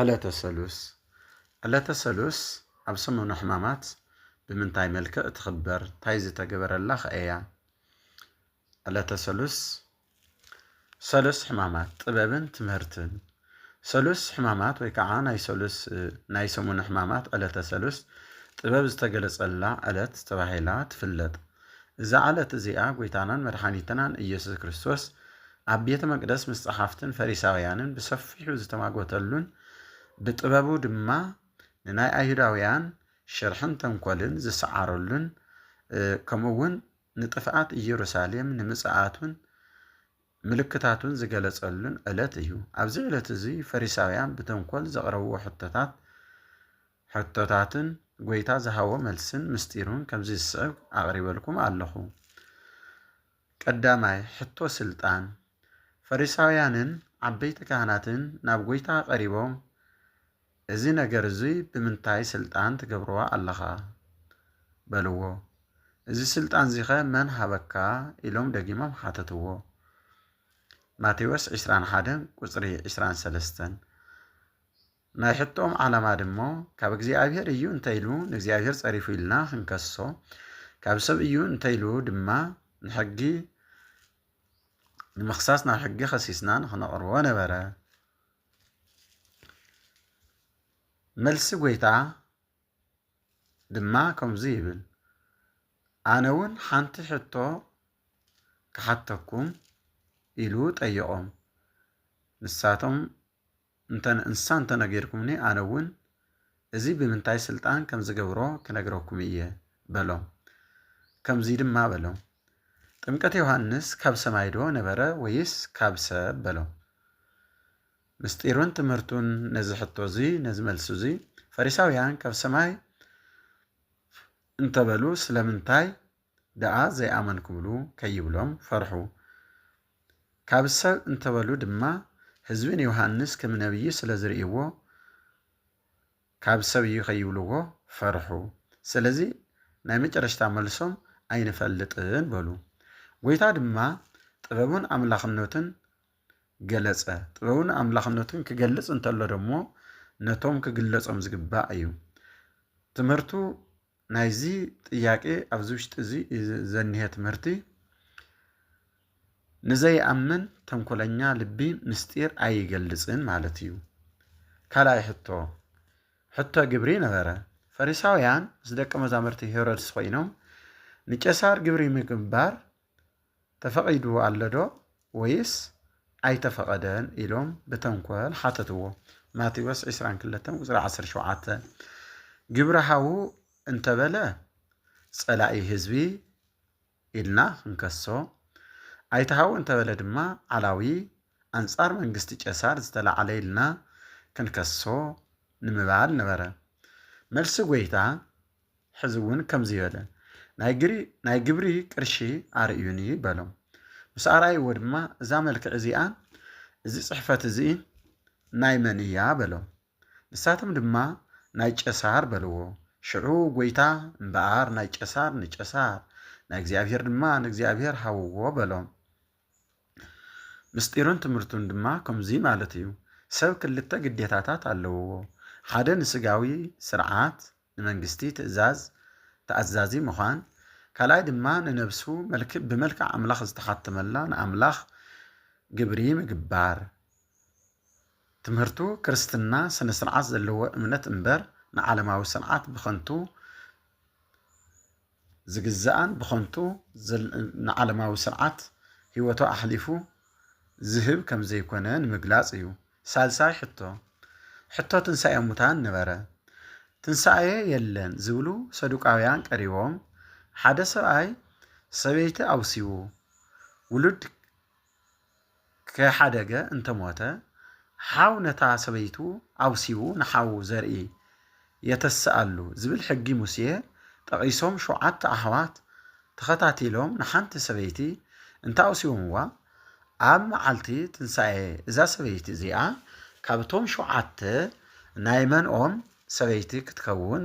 ዕለተ ሰሉስ፣ ዕለተ ሰሉስ ኣብ ሰሙነ ሕማማት ብምንታይ መልክዕ ትኽበር ታይ ዝተገበረላ ከ እያ? ዕለተ ሰሉስ፣ ሰሉስ ሕማማት ጥበብን ትምህርትን፣ ሰሉስ ሕማማት ወይ ከዓ ናይ ሰሉስ ናይ ሰሙነ ሕማማት ዕለተ ሰሉስ ጥበብ ዝተገለፀላ ዕለት ተባሂላ ትፍለጥ። እዛ ዕለት እዚኣ ጎይታናን መድሓኒትናን እየሱስ ክርስቶስ ኣብ ቤተ መቅደስ ምስ ጸሓፍትን ፈሪሳውያንን ብሰፊሑ ዝተማጎተሉን ብጥበቡ ድማ ንናይ ኣይሁዳውያን ሽርሕን ተንኮልን ዝሰዓረሉን ከምኡ እውን ንጥፍኣት ኢየሩሳሌም ንምጽኣቱን ምልክታቱን ዝገለጸሉን ዕለት እዩ። ኣብዚ ዕለት እዚ ፈሪሳውያን ብተንኮል ዘቕረብዎ ሕቶታት ሕቶታትን ጎይታ ዝሃቦ መልስን ምስጢሩን ከምዚ ዝስዕብ ኣቕሪበልኩም ኣለኹ። ቀዳማይ ሕቶ ስልጣን። ፈሪሳውያንን ዓበይቲ ካህናትን ናብ ጐይታ ቀሪቦም እዚ ነገር እዙይ ብምንታይ ስልጣን ትገብሮ ኣለኻ? በልዎ። እዚ ስልጣን እዚኸ መን ሃበካ? ኢሎም ደጊሞም ሓተትዎ። ማቴዎስ ዕስራን ሓደን ቁጽሪ ዕስራን ሰለስተን። ናይ ሕቶኦም ዓላማ ድሞ ካብ እግዚኣብሔር እዩ እንተይሉ ንእግዚኣብሔር ጸሪፉ ኢልና ክንከሶ ካብ ሰብ እዩ እንተይሉ ድማ ንሕጊ ንምኽሳስ ናብ ሕጊ ከሲስና ንክነቕርቦ ነበረ። መልሲ ጎይታ ድማ ከምዚ ይብል ኣነ እውን ሓንቲ ሕቶ ክሓተኩም ኢሉ ጠየቖም። ንሳቶም እንተ ንእንስሳ እንተ ነጊርኩምኒ፣ ኣነውን እዚ ብምንታይ ሥልጣን ከም ዝገብሮ ክነግረኩም እየ፣ በሎም። ከምዙይ ድማ በሎም፣ ጥምቀት ዮሓንስ ካብ ሰማይዶ ነበረ ወይስ ካብ ሰብ? በሎም። ምሥጢሩን ትምህርቱን ነዚ ሕቶ እዙይ፣ ነዚ መልሲ እዙይ፣ ፈሪሳውያን ካብ ሰማይ እንተበሉ ስለምንታይ ደኣ ዘይኣመንኩምሉ ከይብሎም ፈርሑ። ካብ ሰብ እንተ በሉ ድማ፣ ህዝቢ ንዮሃንስ ከም ነብዪ ስለ ዝርእይዎ፣ ካብ ሰብ እዩ ከይብልዎ ፈርሑ። ስለዚ ናይ መጨረሽታ መልሶም ኣይንፈልጥን በሉ። ጐይታ ድማ ጥበቡን ኣምላኽነቱን ገለጸ። ጥበቡን ኣምላኽነቱን ክገልጽ እንተሎ ደሞ ነቶም ክግለጾም ዝግባእ እዩ። ትምህርቱ ናይዚ ጥያቄ ኣብዚ ውሽጢ እዚ ዘኒሀ ትምህርቲ ንዘይኣምን ተንኮለኛ ልቢ ምስጢር ኣይገልጽን ማለት እዩ። ካልኣይ ሕቶ ሕቶ ግብሪ ነበረ። ፈሪሳውያን ምስ ደቂ መዛሙርቲ ሄሮድስ ኮይኖም ንቄሳር ግብሪ ምግባር ተፈቒዱ ኣሎዶ ወይስ ኣይተፈቐደን ኢሎም ብተንኮል ሓተትዎ። ማቴዎስ ዕስራን ክልተን ቁጽሪ ዓሰርተ ሸውዓተ ግብረ ሃዉ እንተበለ ጸላኢ ህዝቢ ኢልና ክንከሶ፣ ኣይተሃዉ እንተበለ ድማ ዓላዊ ኣንጻር መንግስቲ ቄሳር ዝተላዕለ ኢልና ክንከሶ ንምባል ነበረ። መልሲ ጐይታ ሕዚ እውን ከምዙይ በለ፣ ናይ ግብሪ ቅርሺ ኣርእዩኒ በሎም። ምስ ኣርኣይዎ ድማ እዛ መልክዕ እዚኣን እዚ ጽሕፈት እዙይን ናይ መን እያ በሎም። ንሳቶም ድማ ናይ ቄሳር በልዎ። ሽዑ ጐይታ እምበኣር ናይ ቄሳር ንቄሳር፣ ናይ እግዚኣብሔር ድማ ንእግዚኣብሔር ሃብዎ በሎም። ምስጢሩን ትምህርቱን ድማ ከምዙይ ማለት እዩ፣ ሰብ ክልተ ግዴታታት ኣለውዎ፣ ሓደ ንሥጋዊ ሥርዓት፣ ንመንግስቲ ትእዛዝ ተኣዛዚ ምዃን፣ ካልኣይ ድማ ንነብሱ መልክ ብመልክዕ ኣምላኽ ዝተሓተመላ ንኣምላኽ ግብሪ ምግባር። ትምህርቱ ክርስትና ስነ-ስርዓት ዘለዎ እምነት እምበር ንዓለማዊ ስርዓት ብኸንቱ ዝግዛእን ብኸንቱ ንዓለማዊ ስርዓት ህይወቱ ኣሕሊፉ ዝህብ ከም ዘይኮነ ንምግላጽ እዩ። ሳልሳይ ሕቶ፣ ሕቶ ትንሳኤ ሙታን ነበረ። ትንሳኤ የለን ዝብሉ ሰዱቃውያን ቀሪቦም፣ ሓደ ሰብኣይ ሰበይቲ ኣውሲቡ፣ ውሉድ ከይሓደገ እንተ ሞተ፣ ሓው ነታ ሰበይቱ ኣውሲቡ ንሓዉ ዘርኢ የተስኣሉ ዝብል ሕጊ ሙሴ ጠቒሶም ሸውዓተ ኣሕዋት ተኸታቲሎም ንሓንቲ ሰበይቲ እንተ ኣውሲቦምዋ ኣብ መዓልቲ ትንሳኤ እዛ ሰበይቲ እዚኣ ካብቶም ሸውዓተ ናይ መንኦም ሰበይቲ ክትከውን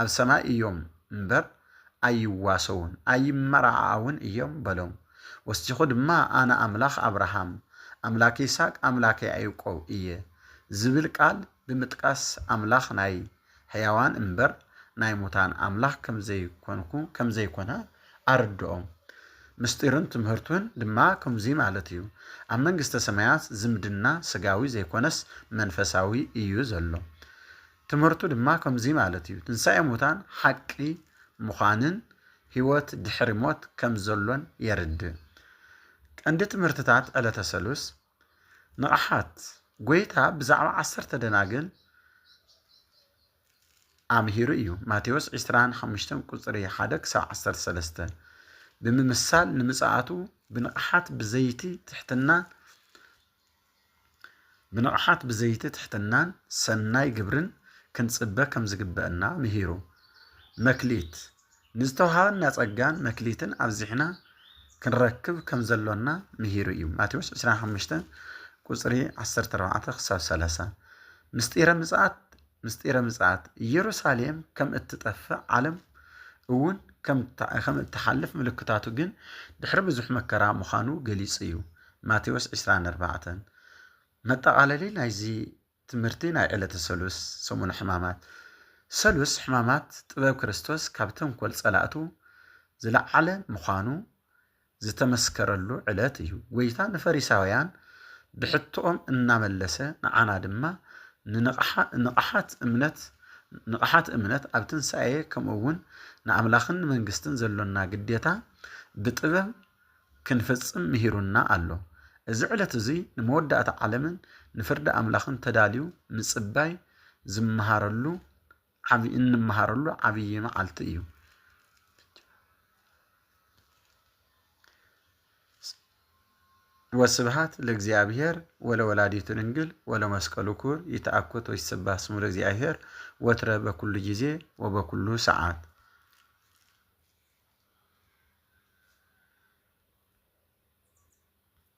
ኣብ ሰማይ እዮም እምበር፣ ኣይዋሰዉን፣ ኣይመራዓዓዉን እዮም በሎም። ወሲኹ ድማ ኣነ ኣምላኽ ኣብርሃም፣ ኣምላክ ይስሃቅ፣ ኣምላክ ያኤውቆብ እየ ዝብል ቃል ብምጥቃስ ኣምላኽ ናይ ሕያዋን እምበር ናይ ሙታን ኣምላኽ ከምዘይኮንኩ ከምዘይኮነ ኣረድኦም። ምስጢሩን ትምህርቱን ድማ ከምዙይ ማለት እዩ። ኣብ መንግስተ ሰማያት ዝምድና ስጋዊ ዘይኮነስ መንፈሳዊ እዩ ዘሎ። ትምህርቱ ድማ ከምዚ ማለት እዩ፣ ትንሳኤ ሙታን ሓቂ ምዃንን ህይወት ድሕሪ ሞት ከም ዘሎን የርድእ። ቀንዲ ትምህርትታት ዕለተ ሰሉስ ንቕሓት ጐይታ ብዛዕባ ዓሰርተ ደናግል ኣምሂሩ እዩ፣ ማቴዎስ ዕስራን ሓሙሽተን ቁጽሪ ሓደ ክሳብ ዓሰርተ ሰለስተ፣ ብምምሳል ንምጽኣቱ ብንቕሓት ብዘይቲ ትሕትናን ብንቕሓት ብዘይቲ ትሕትናን ሰናይ ግብርን ክንጽበ ከም ዝግበእና ምሂሩ። መክሊት፣ ንዝተወሃበና ጸጋን መክሊትን ኣብዚሕና ክንረክብ ከም ዘሎና ምሂሩ እዩ፣ ማቴዎስ ዕስራን ሓሙሽተን ቁጽሪ ዓሰርተ ኣርባዕተ ክሳብ ሰላሳ። ምስጢረ ምጽኣት ምስጢረ ምጽኣት ኢየሩሳሌም ከም እትጠፍእ ዓለም እውን ከም እትሓልፍ ምልክታቱ ግን ድሕሪ ብዙሕ መከራ ምዃኑ ገሊጹ እዩ። ማቴዎስ ዕስራን ኣርባዕተን። መጠቓለሊ ናይዚ ትምህርቲ ናይ ዕለተ ሰሉስ ሰሙነ ሕማማት ሰሉስ ሕማማት ጥበብ ክርስቶስ ካብ ተንኮል ጸላእቱ ዝለዓለ ምዃኑ ዝተመስከረሉ ዕለት እዩ። ጐይታ ንፈሪሳውያን ብሕቶኦም እናመለሰ ንዓና ድማ ንንቕሓት እምነት ንቕሓት እምነት ኣብ ትንሳኤ ከምኡውን ንኣምላኽን ንመንግስትን ዘሎና ግዴታ ብጥበብ ክንፍጽም ምሂሩና ኣሎ። እዚ ዕለት እዙይ ንመወዳእታ ዓለምን ንፍርዲ ኣምላኽን ተዳልዩ ምጽባይ ዝመሃረሉ ዓቢ እንመሃረሉ ዓብዪ መዓልቲ እዩ። ወስብሃት ለእግዚኣብሔር ወለወላዲቱ ድንግል ወለመስቀሉ ክቡር ይትአኮት ወይትሰባህ ስሙ ለእግዚኣብሔር ወትረ በኩሉ ጊዜ ወበኩሉ ሰዓት።